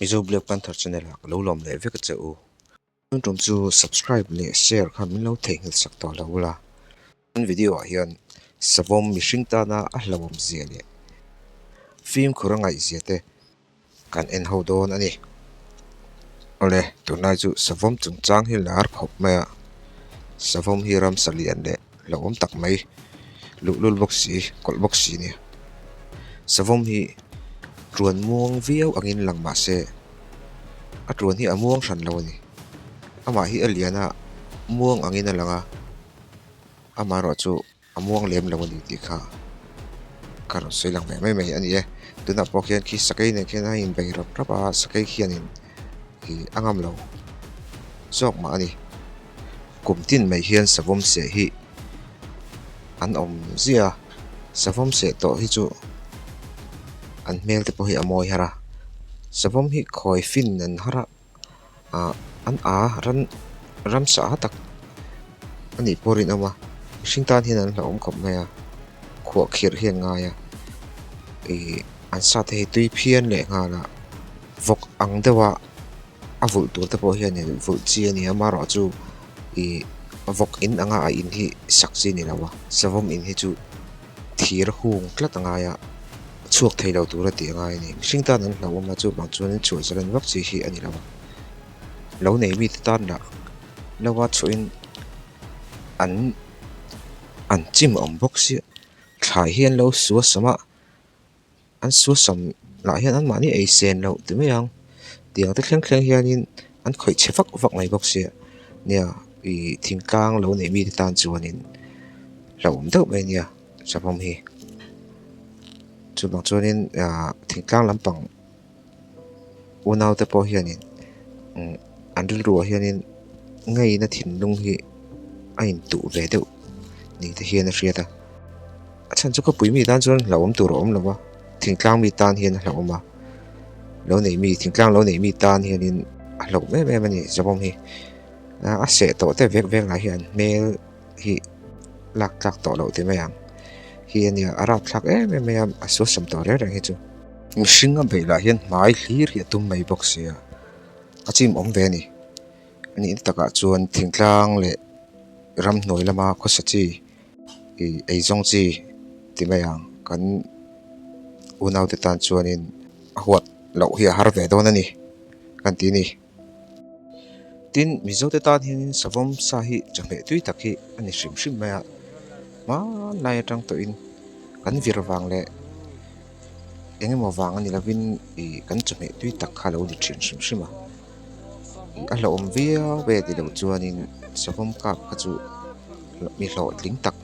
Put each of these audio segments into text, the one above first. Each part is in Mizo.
Mizo Black Panther Channel ah ka lo lawm leh vek che u. Heng tum chu subscribe leh share khan min lo theihnghilh sak tawh lo ula. Kan video ah hian savawm mihring tana a hlauhawm zia leh fimkhur a ngaih zia te kan en ho dawn a ni. Awle tunlai chu savawm chungchang hi lar khawp maia savawm hi ram salian leh. hlauh awm tak mai luhlul bawk si kawlh bawk si nia savawm hi tuan muang viau angin lang mahse a tuan hi a muang hran lo a ni amah hi a lian a muang angin a lang a amaherawh chu a muang lem lo a ni tih kha ka rawn sawi lang ve mai mai a ni e tunah pawh khian khi sakei nen khian a inbei rap rap a sakei khianin-- Hi a ngam lo zawk mah a ni. Kum tin mai hian savawm seh hi an awm ziah a, savawm seh tawh hi chu an hmel te pawh hi a mawi har a, savawm hi khawi fin an har a, ah an a ran ram sah a tak a nih pawh a rinawm a, mihring tan hian an hlauhawm khawp mai a, khuah khirh hi an ngai a, ih an sate hi tui phian leh nghalah Vawk ang deuha a vulh tur te pawh hian in vulh chi a nia mah ruah chu ih vawk in anga a in hi sak chi a ni lo a, savawm in hi chu thir hung tlat a ngai a, chhuak thei lo tur a tih a ngai a ni. Mihring tan an hlauhawm a, chuvang chuan in chhuah zalhan vak chi hi a ni lo a, lo nei mite tan lah lo a chhuah in an an chim awm bawk sia, thlai hi an lo suasawm a. an suarsam lah hian an mahni ei sen loh ti mai ang tiang te thleng thleng hian in an khawih chhe vak vak mai bawk si nia ihh thing tlang lo nei mi te tan chuan in hlauhawm deuh mai nia chawhmawm hi chuvang chuan in ahh thing tlang lampang-- Unaute pawh hianin an rilruah hianin ngeina thinlung hi a intuh ve deuh ni te hian a hriat a, a chhan chu khawpui mi tan chuan hlauhawm tur a awm lo va, thingtlang mi tan hian a hlauhawm a, lo nei mi thingtlang lo nei mi tan hianin a hlauh em em a ni zawng hi, a seh tawh teh vek vek lah hian hmel-- hi lak tlak tawh loh ti mai ang hi a nia a rap thlak em em mai a a suarsam tawh reng reng hi chu mihring a beih lah hian hmai hlir hi a tum mai bawk sia a chim awm ve a ni a nih na tak ah chuan thingtlang leh ramhnuai lama khawsa chi ih eizawng chi ti mai ang kan unaute tan chuan in a huat loh hi a har ve dawn a ni kan tih a ni. Tin, Mizo te tan hianin savam sa hi chawhmeh tui tak hi a ni hrim hrim mai a, hmanlai atang tawhin kan vir vang leh eng emaw vang a ni lovin ih kan chawhmeh tui tak kha a lo ni thin hrim hrim a. A hlauhawm viau ve tih loh chuanin savam kap kha chu mi hlawhtling tak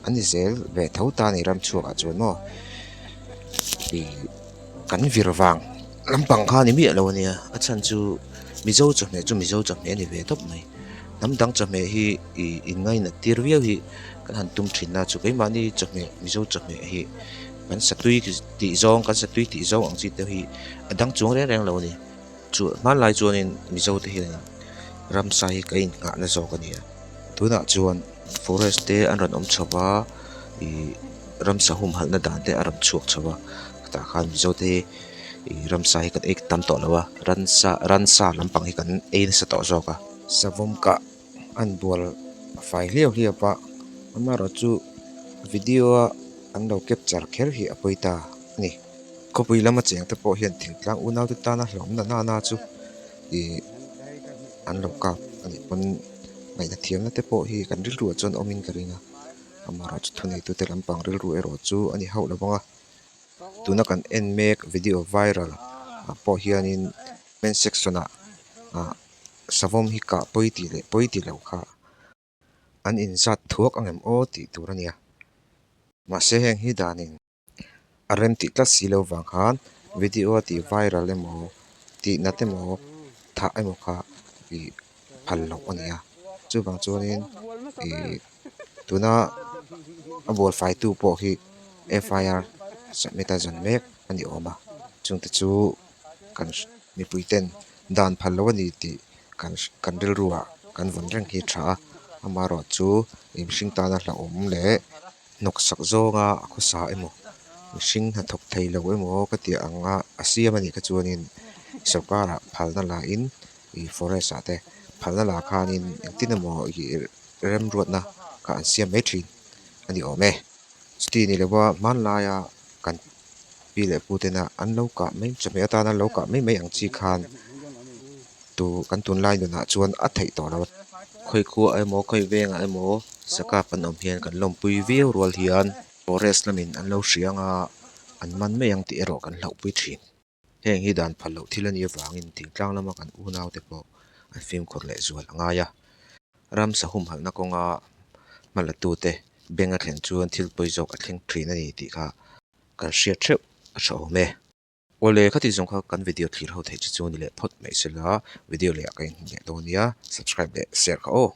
an ni zel ve tho ta a ni ram chhuakah chuan maw ih-- kan vir vang lampang kha ni miah lo a nia a chhan chu mizo chawhmeh chu mizo chawhmeh a ni ve tawp mai hnam dang chawhmeh hi i ingaihna tir viau hi kan han tum thin a chu keimahni chawhmeh mizo chawhmeh hi kan satui tih zawng kan satui tih zawng ang chi te hi a dang chuang reng reng lo a ni. Chu hmanlai chuanin Mizote hian Ramsa hi ka inngahna zawk a nia. Tunah chuan forest te an rawn awm chho va, ih Ramsa humhalhna dan te a rawn chhuak chho va, hetah khan Mizote hi ih Ramsa hi kan ei tam tawh lo va, Ransa Ransa lampang hi kan ei nasa tawh zawk a. Savawm kah a han bual fai hliau hliau a, amaherawhchu video-a an lo capture kher hi a pawi ta a ni. Khawpui lama cheng te pawh hian thing tlang unau te tana hlawm na nana chu ihh an lo kap a nih pawn ngaihna thiamna te pawh hi kan rilru ah chuan awm in ka ring a amaherawhchu thuneihtu te lampang rilru erawh chu a ni hauh lovang a tuna kan en mek video viral ah pawh hianin comment section ah ah savawm hi kah pawi tih leh pawi tih lo kha-- an inzat thuak ang em aw tih tur a nia. Mahse heng hi danin a rem tih tlat si lo vang khan video a ti viral emaw tih nat emaw thah emaw kha ih phal loh a nia. Chuvang chuanin ih tuna a buaifaitu pawh hi FIR submit a zan mek a ni awm a. Chungte chu-- kan mipui ten dan phal lo a ni tih kan kan rilru ah kan vun reng hi a tha a amaherawh chu in hring tan a hlauhawm leh hnawk sak zawng a a khawsa emaw mihring hnathawk thei lo emaw ka tih ang a a siam a nih kha chuanin sawrkar ah phal na la in ih forest ah te phal na la khan in engtin emaw ih remruat na kha an siam mai thin a ni awm e chutih ni loh a hmanlai a kan-- pi leh pu tena an lo kah mai chawp mai atan an lo kah mai mai ang chi khan tu kan tunlai nunah chuan a theih tawh lo a khawi khua ah emaw khawi vengah emaw saka an awm hian kan lawmpui viau rual hian forest lamin an lo hria ang a an man mai ang tih erawh kan hlauhpui thin. Heng hi dan phal loh thil a nih avangin thing tlang lama kan unaute pawh an fimkhur leh zual a ngai a. Ram sahum halhna kawnga hma latute Benga thlen chuan thilpui zawk a thleng thin a ni tih kha kan hriat theuh a tha awm e. Awle kha tih zawng kha kan video thlir ho theih chu chu ni leh phawt mai sela video leh ah ka inhmuh leh dawn nia subscribe leh share kha aw.